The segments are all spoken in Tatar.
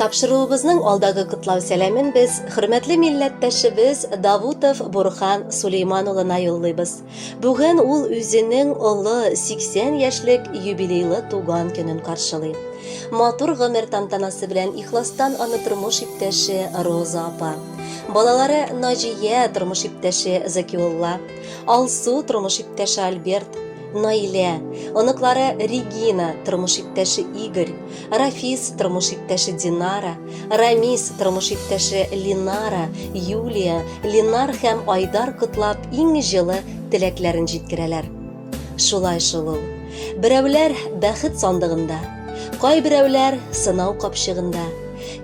Тапшыруыбызның алдагы котлау сәламен без хөрмәтле милләттәшебез Давутов Бурхан Сулейман улына юллыйбыз. Бүген ул үзенең олы 80 яшьлек юбилейлы туган көнен каршылый. Матур гомер тантанасы белән ихластан аны тормыш иптәше Роза апа, балалары Наҗия, тормыш иптәше Закиулла, Алсу, тормыш иптәше Альберт, Наилә, оныклары Регина, тормыш иптәше Игорь, Рафис, тормыш иптәше Динара, Рамис, тормыш иптәше Линара, Юлия, Линар һәм Айдар котлап иң җылы теләкләрен җиткерәләр. Шулай шул ул. Берәүләр бәхет сандыгында, кайберәүләр сынау капчыгында,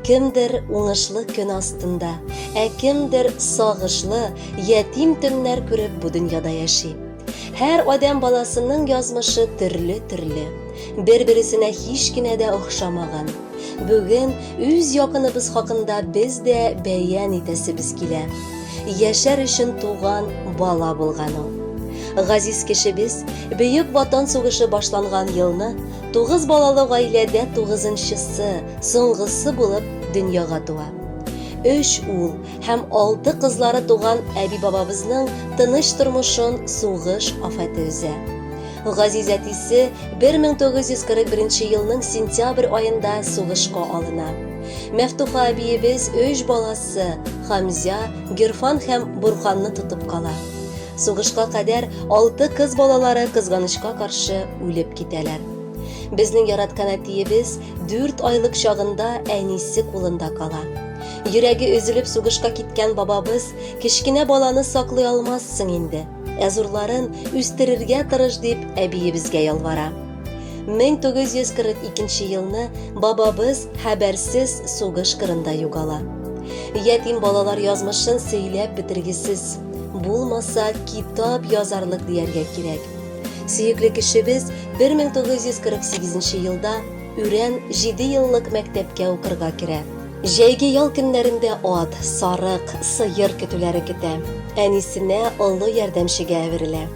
кемдер уңышлы көн астында, ә кемдер сагышлы, ятим төннәр күреп бу дөньяда яши. Һәр адәм баласының язмышы төрле-төрле. Бер-бересенә һич кенә дә охшамаган. Бүген үз якыныбыз хакында без дә бәян итәсебез килә. Яшәр өчен туган бала булган ул. Газиз кешебез Бөек Ватан сугышы башланган елны тугыз балалы гаиләдә тугызынчысы, соңгысы булып дөньяга туа. Өч ул һәм алты кызлары туган әби-бабабызның тыныч тормышын сугыш афәте өзә. Газиз әтисе 1941 елның сентябрь аенда сугышка алына. Мәфтуха әбиебез өч баласы Хамзя, Герфан һәм Бурханны тотып кала. Сугышка кадәр алты кыз балалары кызганычка каршы үлеп китәләр. Безнең яраткан әтиебез дүрт айлык чагында әнисе кулында кала. Йөрәге өзелеп сугышка киткән бабабыз, кечкенә баланы саклый алмассың инде, ә зурларын үстерергә тырыш дип әбиебезгә ялвара. 1942 елны бабабыз хәбәрсез сугыш кырында югала. Ятим балалар язмышын сөйләп бетергесез. Булмаса, китап язарлык дияргә кирәк. Сөекле кешебез 1948 елда Үрән 7 еллык мәктәпкә укырга керә. Җәйге ял көннәрендә ат, сарык, сыер көтүләре көтә. Әнисенә, олы ярдәмчегә әверелә.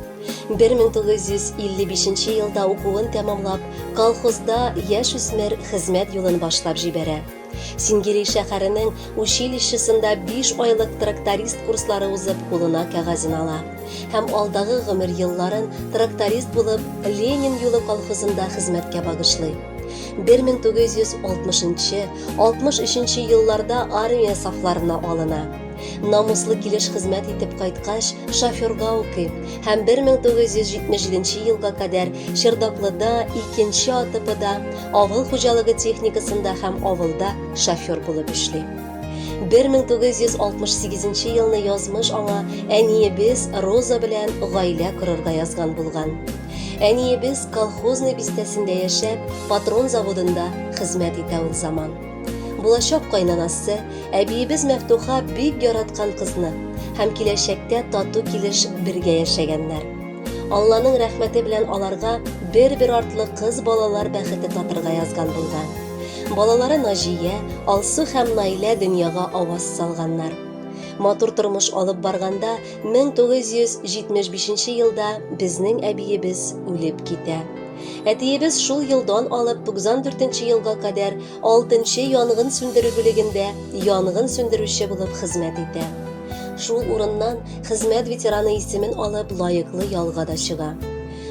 1955 нче елда укуын тәмамлап, колхозда яшүсмер хезмәт юлын башлап җибәрә. Сингели шәһәренең училищесында биш айлык тракторист курслары узып, кулына кәгазен ала. Һәм алдагы гомер елларын тракторист булып Ленин юлы колхозында хезмәткә багышлый. 1960-63 елларда армия сафларына алына. Намуслы килеш хезмәт итеп кайткач, шоферга укый һәм 1977 елга кадәр Чердаклыда, икенче АТПда, авыл хуҗалыгы техникасында һәм авылда шофер булып эшли. 1968 елны язмыш аңа әниебез Роза белән гаилә корырга язган булган. Әниебез колхозный бистәсендә яшәп, патрон заводында хезмәт итә ул заман. Булачак кайнанасы, әбиебез Мәфтуха бик яраткан кызны һәм киләчәктә тату килеш бергә яшәгәннәр. Алланың рәхмәте белән аларга бер-бер артлы кыз балалар бәхете татырга язган булган. Балалары Наҗия, Алсу һәм Наилә дөньяга аваз салганнар. Матур тормыш алып барганда 1975 елда безнең әбиебез үлеп китә. Әтиебез шул елдан алып 94 елга кадәр 6 янгын сүндерү бүлегендә янгын сүндерүче булып хезмәт итә. Шул урыннан хезмәт ветераны исемен алып лаеклы ялга да чыга.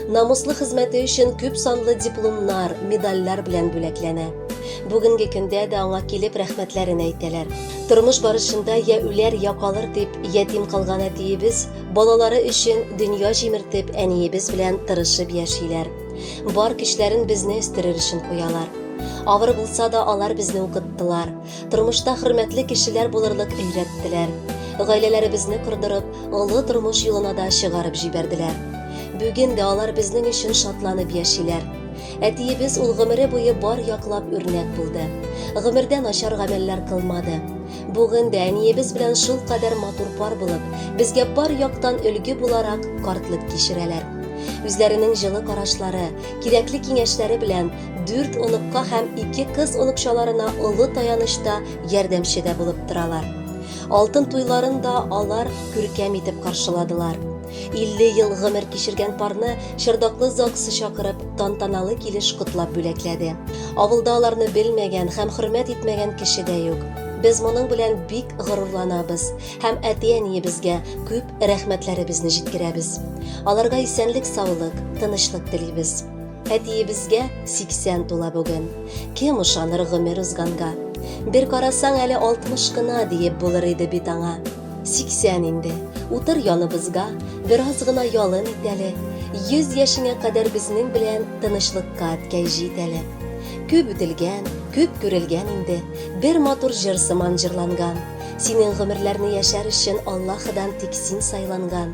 намуслы хезмәте өчен күп санлы дипломнар, медальләр белән бүләкләнә. Бүгенге көндә дә аңа килеп рәхмәтләрен әйтәләр. Тормыш барышында я үләр, я калыр дип ятим калган әтиебез балалары өчен дөнья җимертеп әниебез белән тырышып яшиләр. Бар көчләрен безне үстерер өчен куялар. Авыр булса да алар безне укыттылар. тормышта хөрмәтле кешеләр булырлык өйрәттеләр. Гаиләләребезне кордырып, олы тормыш юлына да чыгарып җибәрделәр. Бүген дә алар безнең өчен шатланып яшиләр. Әтиебез ул гомере буе бар яклап үрнәк булды. Гомердә начар гамәлләр кылмады. Бүген дә әниебез белән шул кадәр матур пар булып, безгә бар яктан өлге буларак картлык кичерәләр. Үзләренең җылы карашлары, кирәкле киңәшләре белән Дүрт оныкка һәм ике кыз оныкчаларына олы таяныч та, ярдәмче дә булып торалар. Алтын туйларын да алар күркәм итеп каршыладылар. 50 ел гомер кичергән парны Чырдаклы ЗАГСы чакырып, тантаналы килеш котлап бүләкләде. Авылда аларны белмәгән һәм хөрмәт итмәгән кеше дә юк. Без моның белән бик горурланабыз һәм әти-әниебезгә күп рәхмәтләребезне җиткерәбез. Аларга исәнлек-саулык, тынычлык телибез. Әтиебезгә 80 тула бүген. Кем ышаныр гомер узганга? Бер карасаң әле 60 кына диеп булыр иде бит аңа. 80 инде. Утыр яныбызга, бераз гына ялын ит әле. 100 яшеңә кадәр безнең белән тынычлыкка әткәй җит әле. Күп үтелгән, күп күрелгән инде. Бер матур җыр сыман җырланган. Синең гомерләрне яшәр өчен Аллаһыдан тик син сайланган.